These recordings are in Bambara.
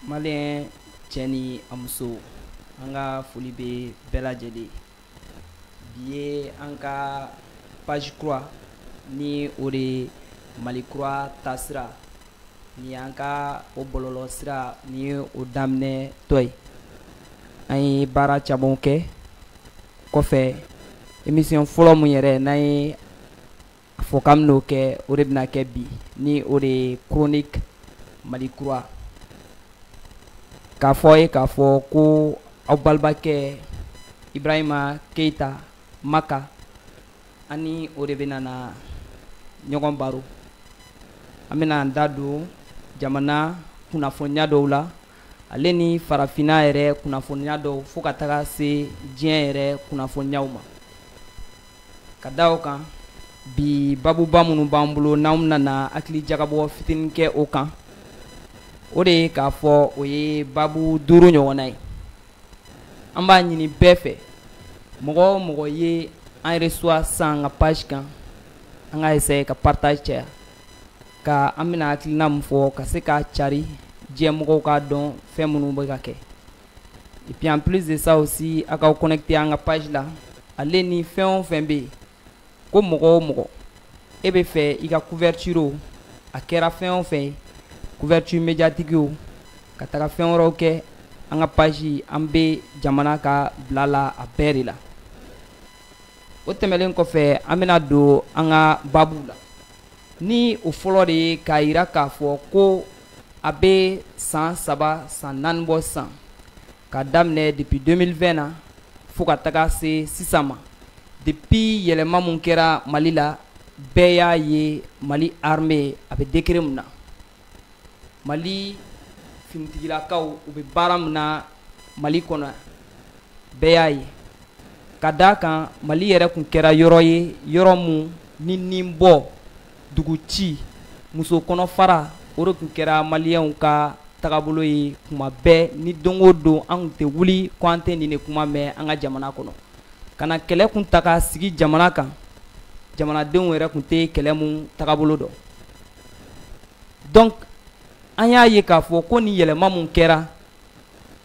maliyɛn cɛ ni a muso an ka foli bɛ bɛɛ lajɛlen bi ye an ka page kura ni o de ye mali kura taasira Ni y'an ka o bɔlɔlɔ sira ni o daminɛtɔ ye an ye baara caman kɛ o kɔfɛ émission fɔlɔ min yɛrɛ n'an ye a fɔ k'an bɛna o kɛ o de bɛna kɛ bi ni o de ye chronique mali kura k'a fɔ ye k'a fɔ ko aw balimakɛ ibrahima keyita makan ani o de bɛna na ɲɔgɔn baro an bɛna an da don jamana kunnafoniya dɔw la ale ni farafinna yɛrɛ kunnafoniya dɔw fo ka taga se diɲɛ yɛrɛ kunnafoniyaw ma ka da o kan bi babuba minnu b'an bolo n'an bɛna hakili jagabɔ fitinin kɛ o kan o de ye k'a fɔ o ye babu duuru ɲɔgɔnna ye an b'a ɲini bɛɛ fɛ mɔgɔ o mɔgɔ ye an reçoit san an ka page kan an ka essayer ka partage caya ka an bɛna hakilina min fɔ ka se ka cari diɲɛ mɔgɔw k'a dɔn fɛn minnu bɛ ka kɛ et puis en plus de ça aussi a k'aw connecter an ka page la ale ni fɛn o fɛn bɛ yen ko mɔgɔ o mɔgɔ e bɛ fɛ i ka couverture o a kɛra fɛn o fɛn ye couverture médiatique o ka taga fɛn wɛrɛw kɛ an ka page an bɛ jamana ka bila la a bɛɛ de la o tɛmɛlen kɔfɛ an bɛna don an ka babuw la ni o fɔlɔ de ye k'a jira k'a fɔ ko a bɛ san saba san naani bɔ san ka daminɛ depuis 2020 na fo ka taga se sisan ma depuis yɛlɛma mun kɛra mali la bɛɛ y'a ye mali armée a bɛ degré mun na mali finitigilakaw u bɛ baara mun na mali kɔnɔ bɛɛ y'a ye ka d'a kan mali yɛrɛ tun kɛra yɔrɔ ye yɔrɔ mun ni ni bɔ dugu ci muso kɔnɔ fara o de tun kɛra maliyɛnw ka tagabolo ye tuma bɛɛ ni don o don an tun tɛ wuli ko an tɛ nin de kuma mɛn an ka jamana kɔnɔ ka na kɛlɛ kun ta k'a sigi jamana kan jamanadenw yɛrɛ tun tɛ kɛlɛ min tagabolo dɔn donc an y'a ye k'a fɔ ko nin yɛlɛma min kɛra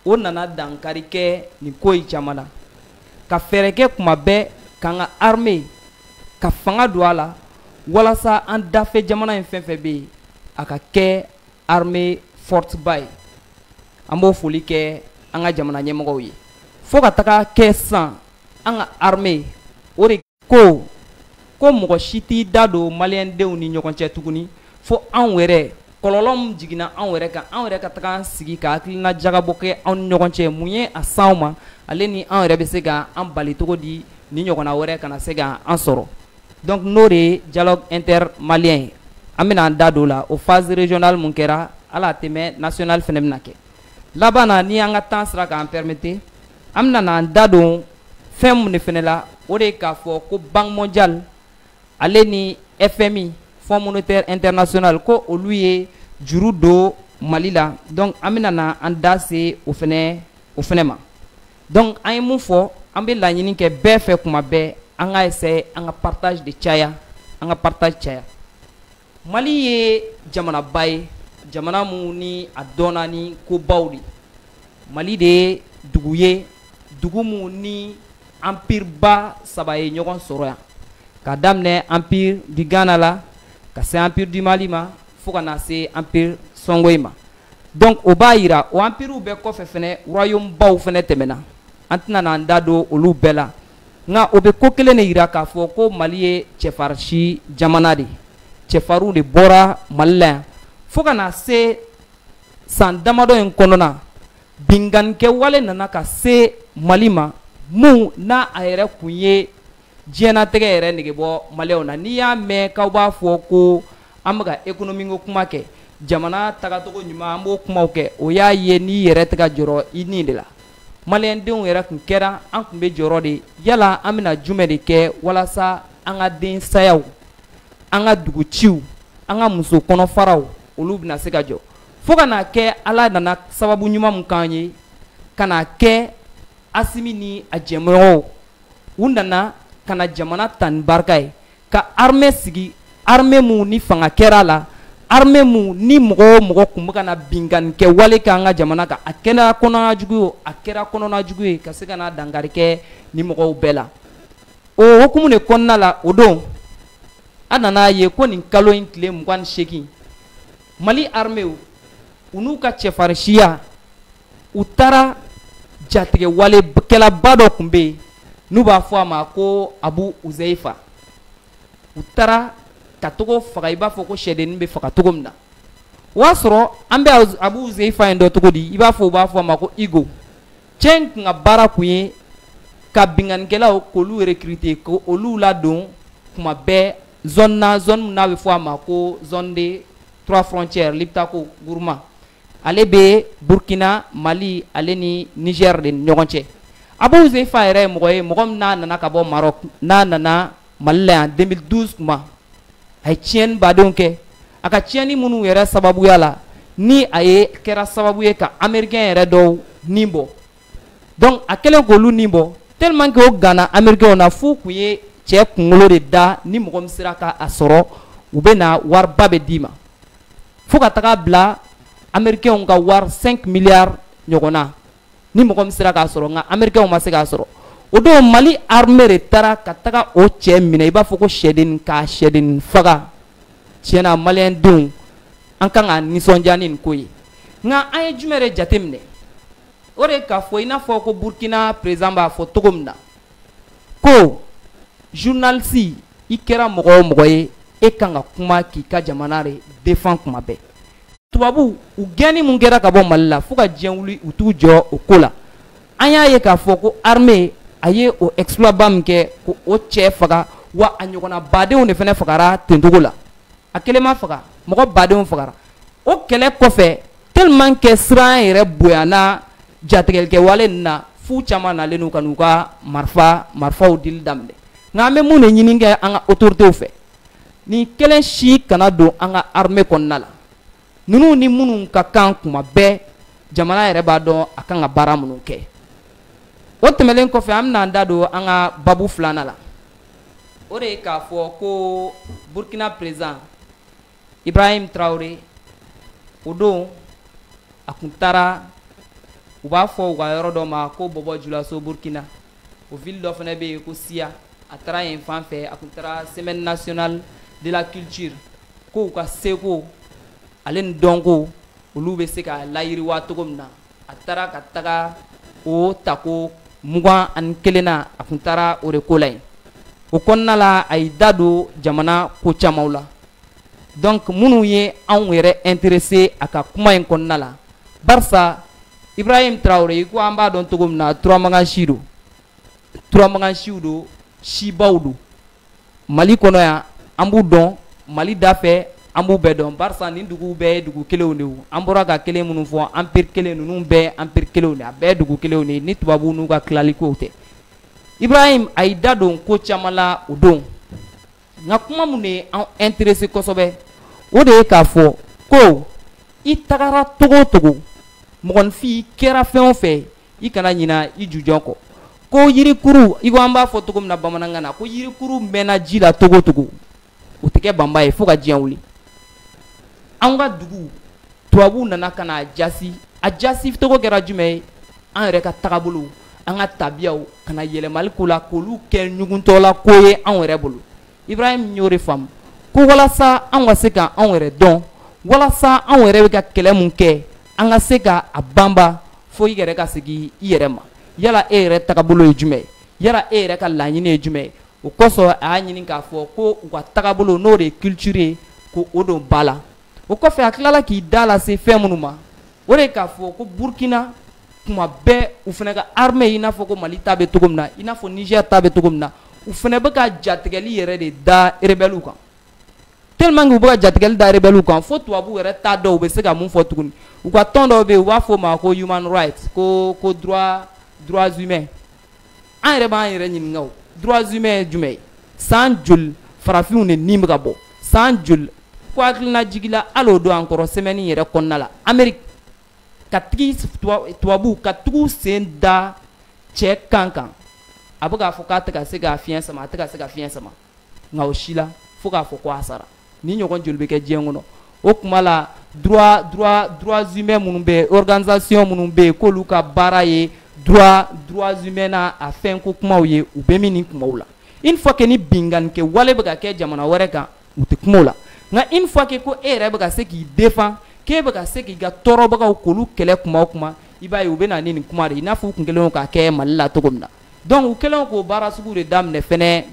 o nana dankari kɛ nin ko in caman na ka fɛɛrɛ kɛ kuma bɛɛ k'an ka armée ka fanga don a la walasa an dafɛ jamana in fɛn fɛn bɛ yen a ka kɛ armée forte ba ye an b'o foli kɛ an ka jamana ɲɛmɔgɔw ye fo ka taga kɛ sisan an ka armée o de ko ko mɔgɔ si t'i da don maliyɛndenw ni ɲɔgɔn cɛ tuguni fo anw yɛrɛ kɔlɔlɔ min jiginna anw yɛrɛ kan anw yɛrɛ ka taga an sigi ka hakilina jagabɔ kɛ anw ni ɲɔgɔn cɛ mun ye a s'anw ma ale ni anw yɛrɛ bɛ se ka an bali cogo di nin ɲɔgɔnna wɛrɛ kana se ka an sɔrɔ donc n'o de ye dialogue intermalien ye an bɛna an da don o la o phase régionale mun kɛra a la a tɛmɛ national fɛnɛ bɛna kɛ laban na ni an ka temps sera k'an permettre An bɛna na an da don fɛn mun de fɛnɛ la o de ye k'a fɔ ko Banque mondiale ale ni FMI, Fonds monétaire international, ko olu ye juru don Mali la donc an bɛna na an da se o fɛnɛ o fɛnɛ ma donc an ye mun fɔ an bɛ laɲini kɛ bɛɛ fɛ kuma bɛɛ an ka essayer an ka partage de caya an ka partage caya. Mali ye jamanaba ye jamana mun ni a dɔnna ni ko baw di mali de ye dugu ye dugu mun ni empire ba saba ye ɲɔgɔn sɔrɔ yan ka daminɛ empire du Ghana la ka se empire du mali ma fo ka na se empire songhoï ma donc o b'a jira o empirew bɛɛ kɔfɛ fɛnɛ royaume baw fɛnɛ tɛmɛna an tɛna na an da don olu bɛɛ la nka o bɛ ko kelen de jira k'a fɔ ko mali ye cɛfarinsi jamana de ye cɛfarinw de bɔra mali la yan fo ka na se san damadɔ in kɔnɔna binkannikɛwale nana ka se mali ma mun n'a a yɛrɛ kun ye diɲɛnatigɛ yɛrɛ nege bɔ maliyɛnw na n'i y'a mɛn k'aw b'a fɔ ko an bɛ ka ekonomiko kuma kɛ jamana tagacogo ɲuman an b'o kumaw kɛ o y'a ye n'i yɛrɛ tɛ ka jɔrɔ i ni de la maliyɛndenw yɛrɛ kun kɛra an kun bɛ jɔrɔ de yala an bɛna jumɛn de kɛ walasa an ka den sayaw an ka dugu ciw an ka muso kɔnɔfaraw olu bɛna se ka jɔ fo ka n'a kɛ ala nana sababu ɲuman min k'an ye ka n'a kɛ asimi ni a jɛmɔgɔw u nana ka na jamana ta ni barika ye ka armée sigi armée mun ni fanga kɛra a la armée mun ni mɔgɔ o mɔgɔ kun bɛ ka na binkanni kɛ wale kɛ an ka jamana kan a kɛra kɔnɔna jugu ye a kɛra kɔnɔna jugu ye ka se ka na dankari kɛ ni mɔgɔw bɛɛ la o hukumu de kɔnɔna la o don an nan'a ye ko nin kalo in tile mugan ni seegin mali armée u n'u ka cɛfarinsiya u taara jatigɛwalekɛlaba dɔ tun bɛ yen n'u b'a fɔ a ma ko abu uzeyifa u taara ka taga o faga i b'a fɔ ko sɛdennin bɛ faga cogo min na o y'a sɔrɔ an bɛ abu uzeyifa in dɔn cogo di i b'a fɔ u b'a fɔ a ma ko igo cɛ in tun ka baara tun ye ka binkannikɛlaw k'olu recruter k'olu ladon kuma bɛɛ zone na zone min n'a bɛ fɔ a ma ko zone de trois frontières liptako guruma ale bɛ burkina mali ale ni niger de ɲɔgɔn cɛ abu uzeyifa yɛrɛ ye mɔgɔ ye mɔgɔ min n'a nana ka bɔ marɔk n'a nana mali la yan 2012 kuma a ye tiɲɛni badenw kɛ a ka tiɲɛni minnu yɛrɛ sababuya la ni a ye kɛra sababu ye ka amerikɛn yɛrɛ dɔw nin bɔ donc a kɛlen k'olu nin bɔ tellement que o ganna amerikɛnw na f'u tun ye cɛ kunkolo de da ni mɔgɔ min sera ka a sɔrɔ u bɛ na wariba bɛɛ d'i ma fo ka taga bila americains ka wari 5 milliards ɲɔgɔn na ni mɔgɔ min sera k'a sɔrɔ nka americains ma se k'a sɔrɔ o don mali armée de taara ka taga o cɛ minɛ i b'a fɔ ko sɛdennin k'a sɛdennin faga tiɲɛna maliyɛn denw an kan ka nisɔndiya ni nin ko ye nka an ye jumɛn de jateminɛ o de k'a fɔ i n'a fɔ ko burkina président b'a fɔ cogo min na ko journaliste i kɛra mɔgɔ o mɔgɔ ye e kan ka kuma k'i ka jamana de defan kuma bɛɛ tubabuw gɛnni min kɛra ka bɔ mali la fo ka diɲɛ wuli u t'u jɔ o ko la an y'a ye k'a fɔ ko armée a ye o exploit ba min kɛ k'o cɛ faga wa a ɲɔgɔnna badenw de fana fagara ten cogo la a kelen ma faga mɔgɔ badenw fagara o kɛlɛ kɔfɛ tellement que siran yɛrɛ bonyana jatigɛlikɛwale nin na f'u caman nalen n'u ka n'u ka marifa marifaw dili daminɛ nka an bɛ mun de ɲini kɛ an ka autorités fɛ nin kelen si kana don an ka armée kɔnɔna la ninnu ni minnu ka kan kuma bɛɛ jamana yɛrɛ b'a dɔn a kan ka baara minnu kɛ o tɛmɛnen kɔfɛ an bɛna an da don an ka babu filanan la o de ye k'a fɔ ko burkina président ibrahim tarawele o don a tun taara u b'a fɔ u ka yɔrɔ dɔ ma ko bɔbɔ julaso burkina o ville dɔ fana bɛ yen ko siya a taara yen fan fɛ a tun taara semaine nationale de la culture ko u ka seko ale ni dɔnko olu bɛ se ka layiriwa cogo min na a taara ka taga o tako mugan ani kelen na a tun taara o de ko la yen o kɔnɔna la a y'i da don jamana ko camanw la donc minnu ye anw yɛrɛ intéresser a ka kuma in kɔnɔna la barisa ibrahim tarawele i ko an b'a dɔn cogo min na turamagan si don turamagan siw don sibaw don mali kɔnɔ yan an b'u dɔn mali da fɛ an b'u bɛɛ dɔn barisa nin duguw bɛɛ ye dugu kelenw de an bɔra ka kelen minnu fɔ empire kelen ninnu bɛɛ empire kelenw de a bɛɛ dugu kelenw de ni tubabu n'u ka tilalikow tɛ ibrahim a y'i da don ko caman la o don nka kuma min de ye an intéresser kosɛbɛ o de ye k'a fɔ ko i tagara cogo o cogo mɔgɔninfin kɛra fɛn o fɛ i kana ɲina i jujɔn kɔ ko yirikuru i ko an b'a fɔ cogo min na bamanankan na ko yirikuru mɛnna ji la cogo cogo o tɛ kɛ banba ye fo ka diɲɛ wuli an ka dugu tubabuw nana ka na a jasi a jasi cogo kɛra jumɛn ye an yɛrɛ ka tagabolow an ka tabiyaw ka na yɛlɛmali k'o la k'olu kɛ ɲuguntɔla ko ye anw yɛrɛ bolo ibrahim y'o de faamu ko walasa an ka se ka anw yɛrɛ dɔn walasa anw yɛrɛ bɛ ka kɛlɛ mun kɛ an ka se ka a banba fo i yɛrɛ ka segin i yɛrɛ ma yala e yɛrɛ tagabolo ye jumɛn ye yala e yɛrɛ ka laɲini ye jumɛn ye o kosɔn a y'a ɲini k'a fɔ ko u ka tagabolo n'o de ye culture ye ko o don ba la o kɔfɛ a tilala k'i da lase fɛn minnu ma o de ye k'a fɔ ko burkina kuma bɛɛ u fana ka armée i n'a fɔ ko mali ta bɛ cogo min na i n'a fɔ niger ta bɛ cogo min na u fana bɛ ka jatigɛli yɛrɛ de da rebelles kan tellement u bɛ ka jatigɛli da rebelles kan fo tubabu yɛrɛ t'a dɔn u bɛ se ka mun fɔ tuguni u ka tɔn dɔw bɛ u b'a fɔ ma ko human rights ko droits humains an yɛrɛ b'an yɛrɛ ɲininka droits humains ye jumɛn ye san joli farafinw de ni bɛ ka bɔ san joli ko hakilina jigila hali o don encore semaine yɛrɛ kɔnɔna la amérique ka tigi tubabu ka tugu sen da cɛ kan kan a bɛ k'a fɔ k'a tɛ ka se ka fiɲɛ sama a tɛ ka se ka fiɲɛ sama nka o si la fo k'a fɔ ko a sara nin ɲɔgɔn joli bɛ kɛ diɲɛ kɔnɔ o kuma la droit droit droits humains minnu bɛ yen organisation minnu bɛ yen k'olu ka baara ye droits humains n'a a fɛnko kumaw ye u bɛ min nin kumaw la une fois que ni binkannikɛ wale bɛ ka kɛ jamana wɛrɛ kan u tɛ kuma la nka une fois que ko e yɛrɛ bɛ ka se k'i défendre k'e bɛ ka se k'i ka tɔɔrɔbagaw k'olu kɛlɛ kuma o kuma i b'a ye u bɛ na ni nin kuma de i n'a fɔ u tun kɛlen k'a kɛ mali la cogo min na donc u kɛlen k'o baara sugu de daminɛ fɛnɛ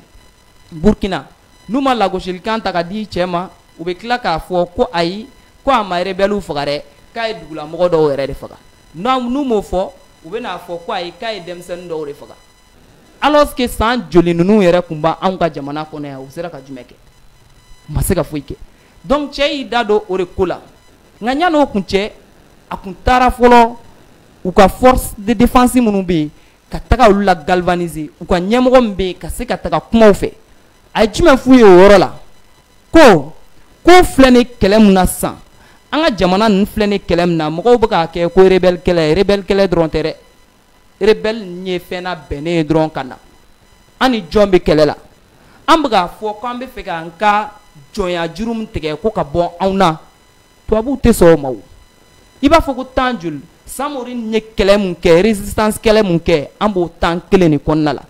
burukina n'u ma lagosilikan ta ka di cɛ ma u bɛ tila k'a fɔ ko ayi ko a ma rebelles faga dɛ k'a ye dugulamɔgɔ dɔw yɛrɛ de faga n'u m'o fɔ u bɛn'a fɔ ko ayi k'a ye denmisɛnnin dɔw de faga alors que san joli ninnu yɛrɛ tun b'anw ka jamana kɔnɔ yan u sera ka jumɛn kɛ u ma se ka foyi kɛ donc cɛ y'i da don o de ko la nka yan'o kuncɛ a kun taara fɔlɔ u ka force de défense minnu bɛ yen ka taga olu la galvaniser u ka ɲɛmɔgɔ min bɛ yen ka se ka taga kuma u fɛ a ye jumɛn f'u ye o yɔrɔ la ko ko filɛ nin kɛlɛ min na sisan an ka jamana ninnu filɛ nin kɛlɛ min na mɔgɔw bɛ k'a kɛ ko rebelle kɛlɛ rebelle kɛlɛ dɔrɔn tɛ dɛ rebelle ninnu ye fɛn labɛnnen ye dɔrɔn ka na an ni jɔn bɛ kɛlɛ la an bɛ k'a fɔ k'an bɛ fɛ k'an ka jɔnya juru min tigɛ ko ka bɔ anw na tubabuw tɛ sɔn o ma o i b'a fɔ ko temps joli samori ye kɛlɛ min kɛ résistance kɛlɛ min kɛ an b'o temps kelen de kɔnɔna la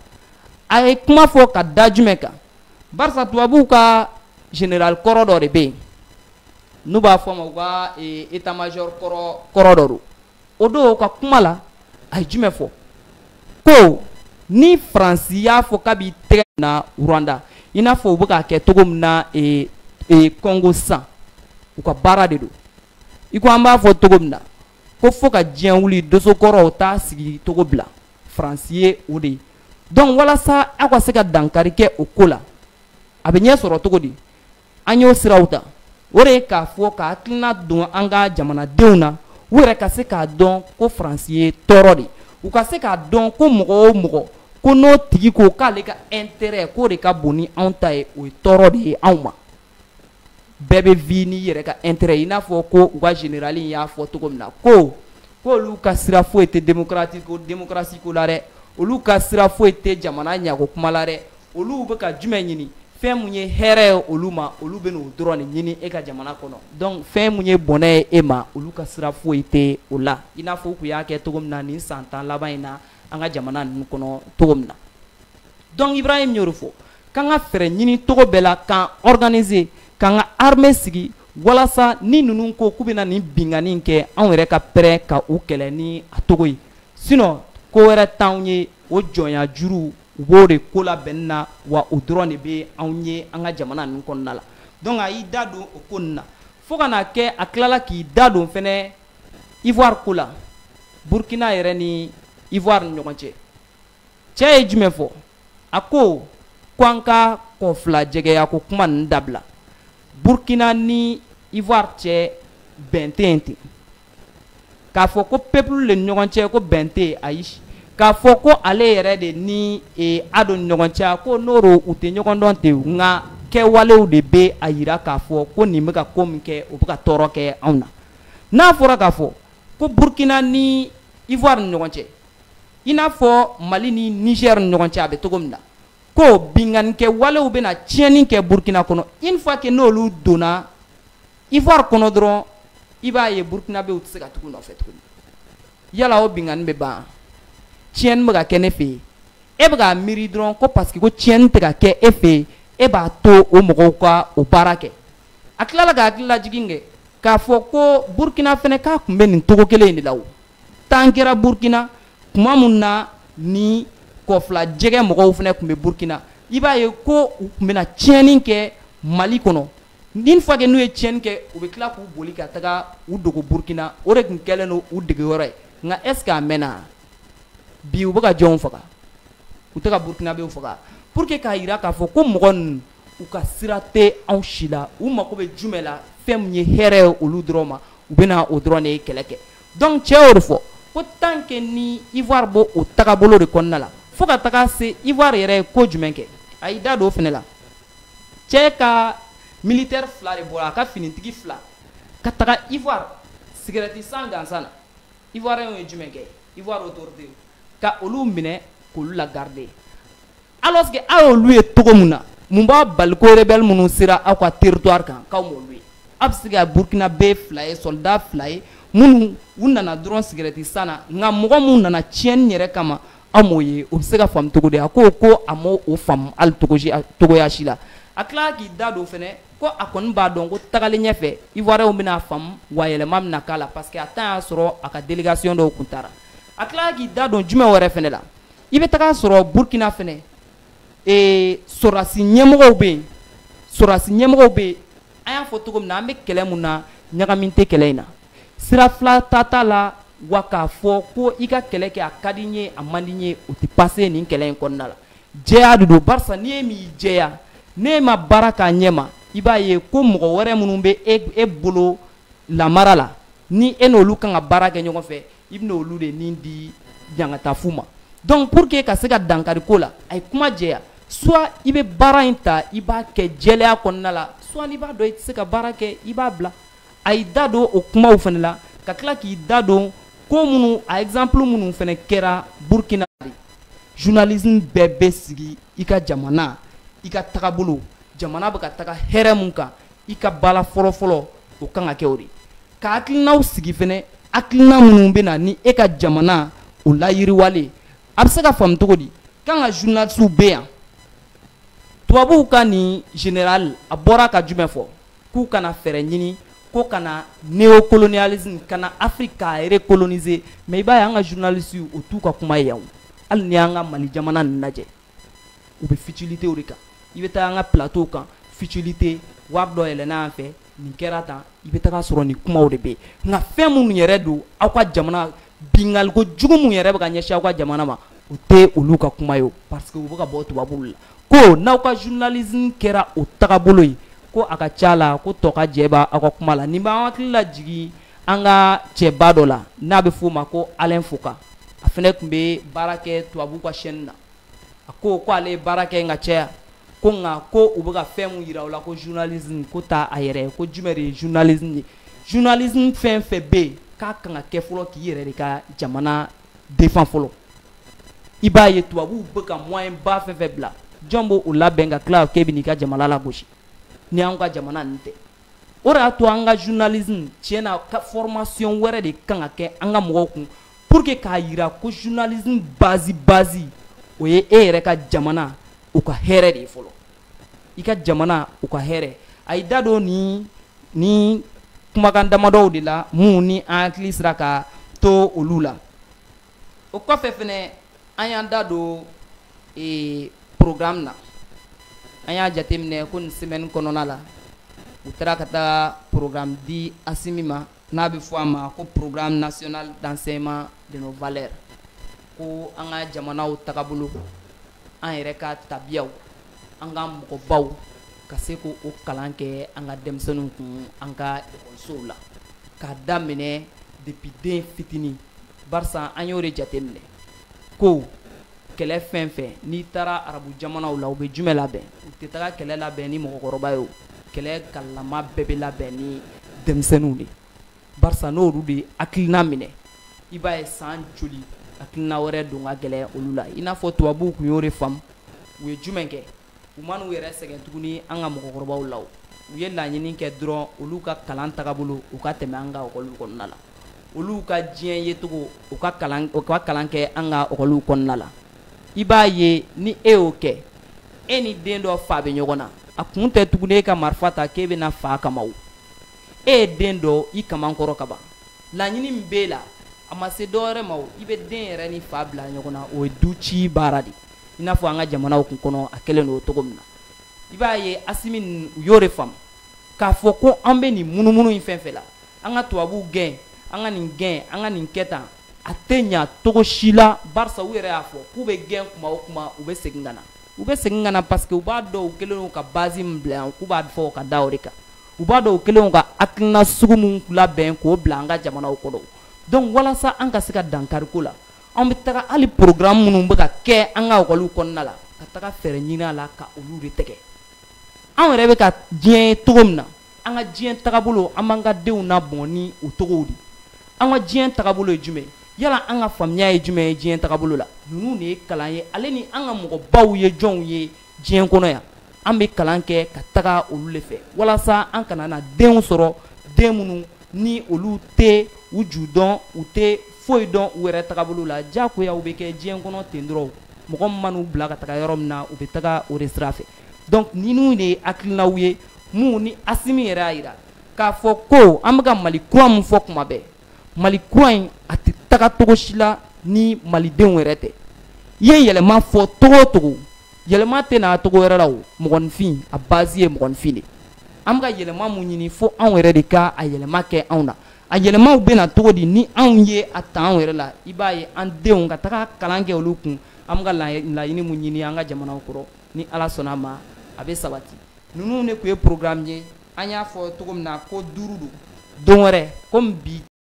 a ye kuma fɔ ka da jumɛn kan barisa tubabuw ka général kɔrɔ dɔ de bɛ yen n'u b'a fɔ a ma u ka état major kɔrɔ dɔ don o don ka kuma la a ye jumɛn fɔ ko ni faransi y'a fɔ k'a b'i tɛgɛ na rwanda i n'a fɔ u bɛ k'a kɛ cogo min na ee ee kɔngo sisan u ka baara de don i ko an b'a fɔ cogo min na ko fo ka diɲɛ wuli dosokɔrɔw t'a sigi cogo bila faransi ye o de ye donc walasa aw ka se ka dankari kɛ o ko la a bɛ ɲɛ sɔrɔ cogo di an y'o siraw ta o de ye k'a fɔ ka hakilina don an ka jamanadenw na u yɛrɛ ka se k'a dɔn ko faransi ye tɔɔrɔ de u ka se k'a dɔn ko mɔgɔ o mɔgɔ ko n'o tigi ko k'ale ka intérêt k'o de ka bon ni anw ta ye o ye tɔɔrɔ de ye anw ma bɛɛ bɛ vi n'i yɛrɛ ka intérêt i n'a fɔ ko u ka général in y'a fɔ cogo min na ko k'olu ka sira foyi tɛ démocratie ko la dɛ olu ka sira foyi tɛ jamana ɲako kuma la dɛ olu bɛ ka jumɛn ɲini fɛn mun ye hɛrɛ ye olu ma olu bɛn'o dɔrɔn de ɲini e ka jamana kɔnɔ donc fɛn mun ye bɔnɛ ye e ma olu ka sira foyi tɛ o la i n'a fɔ u tun y'a kɛ cogo min na nin san tan laban in na an ka jamana ninnu kɔnɔ cogo min na donc Ibrahim y'o de fɔ k'an ka fɛɛrɛ ɲini cogo bɛɛ la k'an organiser k'an ka armée sigi walasa ni ninnu ko k'u bɛna nin binkanni in kɛ anw yɛrɛ ka prêt ka u kɛlɛ ni a cogo ye sinon ko wɛrɛ t'anw ye o jɔnya juru u b'o de ko la bɛn na wa o dɔrɔn de bɛ anw ye an ka jamana ninnu kɔnɔna la donc a y'i da don o ko ninnu na fo ka n'a kɛ a tilala k'i da don fɛnɛ ivoire ko la burkina yɛrɛ ni ivoire ni ɲɔgɔn cɛ cɛ ye jumɛn fɔ a ko ko an ka kɔ fila jɛgɛya ko kuma ninnu dabila burkina ni ivoire cɛ bɛn tɛ yen ten k'a fɔ ko peuple ni ɲɔgɔn cɛ ko bɛn tɛ yen ayi k'a fɔ ko ale yɛrɛ de ni e, ado ni ɲɔgɔn cɛ ko n'o don u tɛ ɲɔgɔn dɔn ten nka kɛwalew de bɛ a yira k'a fɔ ko nin bɛ ka ko min kɛ o bɛ ka tɔɔrɔ kɛ anw na n'a fɔra k'a fɔ ko burkina ni ivoire ni ɲɔgɔn cɛ i n'a fɔ mali ni niger ni ɲɔgɔn cɛ a bɛ cogo min na ko binkannikɛwalew bɛna tiɲɛni kɛ burkina kɔnɔ une fois que n'olu donna ivoire kɔnɔ dɔrɔn i b'a ye burukinabew tɛ se ka tugu u nɔfɛ tuguni yala o binkanni bɛ ban tiɲɛni bɛ ka kɛ ne fɛ yen e bɛ k'a miiri dɔrɔn ko parce que ko tiɲɛni tɛ ka kɛ e fɛ yen e b'a to o mɔgɔw ka o baara kɛ a tilala ka hakililajigin kɛ k'a fɔ ko burukina fana k'a tun bɛ nin cogo kelen in de la o temps kɛra burukina tuma min na ni kɔfila jɛgɛ mɔgɔw fana tun bɛ burukina i b'a ye ko u tun bɛna tiɲɛni kɛ mali kɔnɔ Une fois que n'u ye tiɲɛni kɛ u bɛ tila k'u boli ka taga u dogo burukina o de tun kɛlen don u dege yɔrɔ ye nka est-ce que a mɛnna bi u bɛ ka jɔnw faga u tɛ ka burukinabew faga pour que k'a jira k'a fɔ ko mɔgɔ ninnu u ka sira tɛ anw si la u mago bɛ jumɛn la fɛn min ye hɛrɛ ye olu dɔrɔn ma u bɛna o dɔrɔn de kɛlɛ kɛ donc cɛ y'o de fɔ ko tant que ni ivoire b'o tagabolo de kɔnɔna la fo ka taga se ivoire yɛrɛ ye ko jumɛn kɛ a y'i da don o fana la cɛ ka militaire fila de bɔra a ka finitigi fila ka taga ivoire sigɛrɛti san gansan na ivoirien ye jumɛn kɛ ivoire autorité ka olu minɛ k'olu la garder alors que aw y'olu ye cogo min na mun b'a bali ko rebelle minnu sera aw ka territoire kan k'aw m'olu ye aw bɛ se ka burkinabe fila ye soldat fila ye minnu u nana dɔrɔn sigɛrɛti san na nka mɔgɔ minnu nana tiɲɛni yɛrɛ kama aw m'o ye o bɛ se ka faamu cogo di a ko ko a m'o faamu hali cogoya si la a tilala k'i da don fana ko a kɔni b'a dɔn ko tagalen ɲɛfɛ ivoiriyɛnw bɛna a faamu wa yɛlɛma bɛna k'a la parce que a temps y'a sɔrɔ a ka delegation dɔw tun taara a tilala k'i da don jumɛn wɛrɛ fana la i bɛ taga sɔrɔ burkina fana ee sɔrɔdasi ɲɛmɔgɔw bɛ yen sɔrɔdasi ɲɛmɔgɔw bɛ yen an y'a fɔ cogo min na an bɛ kɛlɛ min na ɲagami tɛ kɛlɛ in na sira fila ta t'a la wa k'a fɔ ko i ka kɛlɛ kɛ a ka di n ye a man di n ye o tɛ passer nin kɛlɛ in kɔnɔna la jɛya de don barisa n'i ye min jɛya n'e ma baara k'a ɲɛ ma i b'a ye ko mɔgɔ wɛrɛ minnu bɛ e bolo lamara la ni e n'olu kan ka baara kɛ ɲɔgɔn fɛ i bɛna olu de ni di ɲangata fu ma donc pour que ka se ka dankari ko la a ye kuma jɛya soit i bɛ baara in ta i b'a kɛ jɛlɛya kɔnɔna la soit n'i b'a dɔn i tɛ se ka baara kɛ i b'a bila a y'i da don o kumaw fana la ka tila k'i da don ko minnu a exemple minnu fana kɛra Burkina de journalisme bɛɛ bɛ sigi i ka jamana i ka tagabolo jamana bɛ ka taga hɛrɛ min kan i ka baara fɔlɔfɔlɔ o kan ka kɛ o de ka hakilinaw sigi fana hakilina minnu bɛ na ni e ka jamana o layiriwali ye a bɛ se ka faamu cogo di k'an ka journalistes bɛ yan tubabuw ka nin general a bɔra ka jumɛn fɔ k'u kana fɛɛrɛ ɲini ko kana neocolonialisme kana afrique k'a recoloniser mais i b'a ye an ka journalistew o t'u ka kuma ye o hali n'i y'an ka mali jamana nin lajɛ u bɛ futilitew de kan i bɛ taga an ka plateau kan futilite wari dɔ yɛlɛnna an fɛ nin kɛra tan i bɛ taga sɔrɔ nin kumaw de bɛ yen nka fɛn minnu yɛrɛ don aw ka jamana binkaliko jugu min yɛrɛ bɛ ka ɲɛsin aw ka jamana ma o tɛ olu ka kuma ye o parce que u bɛ ka bɔ tubabuw la ko n'aw ka journalisme kɛra o tagabolo ye ko a ka ca la ko tɔ ka jɛ b'a aw ka kuma la nin b'an hakili lajigin an ka cɛba dɔ la n'a bɛ f'o ma ko Alain Foka a fɛnɛ tun bɛ baara kɛ tubabuw ka chaîne na a ko ale ye baara kɛ yen ka caya ko nka ko u bɛ ka fɛn min yira u la ko journalisme k'o t'a yɛrɛ ye ko jumɛn de ye journalisme ye journalisme fɛn fɛn bɛ yen k'a kan ka kɛ fɔlɔ k'i yɛrɛ de ka jamana défend fɔlɔ i b'a ye tubabuw bɛ ka moyen ba fɛn fɛn bila jɔn b'o labɛn ka tila k'e bɛn'i ka jamana lagosi ni an ka jamana nin tɛ o de y'a to an ka journalisme tiɲɛ na ko formation wɛrɛ de kan ka kɛ an ka mɔgɔw kun pour que k'a yira ko journalisme base base o ye e yɛrɛ ka jamana o ka hɛrɛ de ye fɔlɔ i ka jamana o ka hɛrɛ a y'i da don nin nin kumakan damadɔw de la minnu ni an hakili sera ka to olu la o kɔfɛ fɛnɛ an y'an da don ee programme na an y'a jateminɛ ko nin semaine kɔnɔna la u taara ka taga programme di Asimi ma n'a bɛ fɔ a ma ko programme national d'enseignement de nos valeurs ko an ka jamanaw tagabolo an yɛrɛ ka tabiyaw an ka mɔgɔbaw ka seko o kalan kɛ an ka denmisɛnninw kun an ka ekɔlisow la k'a daminɛ depuis den fitinin barisa an y'o de jateminɛ ko kɛlɛ fɛn fɛn n'i taara arabu jamanaw la u bɛ jumɛn labɛn u tɛ taga kɛlɛ labɛn ni mɔgɔkɔrɔba ye o kɛlɛ kalama bɛɛ bɛ labɛn ni denmisɛnninw de barisa n'olu de hakilina minɛ i b'a ye san joli hakilina wɛrɛ don ka gɛlɛn olu la i n'a fɔ tubabuw kun y'o de faamu u ye jumɛn kɛ u ma n'u yɛrɛ sɛgɛn tuguni an ka mɔgɔkɔrɔbaw la u ye laɲini kɛ dɔrɔn olu ka kalan tagabolo u ka tɛmɛ an ka ekɔliw kɔnɔna la olu ka diɲɛ yecogo o ka kalan kɛ an ka ekɔliw kɔnɔna la i b'a ye ni e y'o kɛ e ni den dɔ fa bɛ ɲɔgɔn na a kun tɛ tuguni e ka marifa ta k'e bɛ na fa kama o e ye den don i kaman kɔrɔ ka ban laɲini min b'e la a ma se dɔwɛrɛ ma o i bɛ den yɛrɛ ni fa bila ɲɔgɔn na o ye du ci baara de ye i n'a fɔ an ka jamanaw kun kɔnɔ a kɛlen don cogo min na i b'a ye asimi ninnu u y'o de faamu k'a fɔ ko an bɛ nin munumunu in fɛn fɛn la an ka tubabuw gɛn an ka nin gɛn an ka nin kɛ tan a tɛ ɲa cogo si la barisa u yɛrɛ y'a fɔ k'u bɛ gɛn kuma o kuma u bɛ segin ka na u bɛ segin ka na parce que u b'a dɔn u kɛlen don ka base min bila yan k'u b'a fɔ ka da o de kan u b'a dɔn u kɛlen don ka hakilina sugu min labɛn k'o bila an ka jamanaw kɔnɔ donc walasa an ka se ka dankari ko la An bɛ taga hali programme minnu bɛ ka kɛ an ka ekɔliw kɔnɔna la ka taga fɛɛrɛ ɲini a la ka olu de tɛgɛ anw yɛrɛ bɛ ka diɲɛ ye cogo min na an ka diɲɛ tagabolo an b'an ka denw labɛn ni o cogow di an ka diɲɛ tagabolo ye jumɛn yala an ka faamuya ye jumɛn ye diɲɛ tagabolo la ninnu de ye kalan ye ale ni an ka mɔgɔbaw ye jɔnw ye diɲɛ kɔnɔ yan an bɛ kalan kɛ ka taga olu de fɛ walasa an kana na denw sɔrɔ den minnu ni olu tɛ u ju dɔn u tɛ foyi dɔn u yɛrɛ tagabolo la diyagoya u bɛ kɛ diɲɛ kɔnɔ ten dɔrɔn mɔgɔ min man'u bila ka taga yɔrɔ min na u bɛ taga o de sira fɛ donc ninnu de ye hakilinaw ye minnu ni Asimi yɛrɛ y'a jira k'a fɔ ko an bɛ ka Mali kura min fɔ kuma bɛɛ mali kura in a tɛ taga cogo si la ni malidenw yɛrɛ tɛ i ye yɛlɛma fɔ cogo o cogo yɛlɛma tɛ na cogo wɛrɛ la o mɔgɔninfin a base ye mɔgɔninfin de an bɛ ka yɛlɛma min ɲini fo anw yɛrɛ de ka a yɛlɛma kɛ anw na a yɛlɛmaw bɛ na cogo di ni anw ye a ta anw yɛrɛ la i b'a ye an denw ka taga kalan kɛ olu kun an bɛ ka laɲini min ɲini an ka jamanaw kɔrɔ ni ala sɔnna a ma a bɛ sabati ninnu de tun ye programme ye an y'a fɔ cogo min na ko duuru don don wɛrɛ komi bi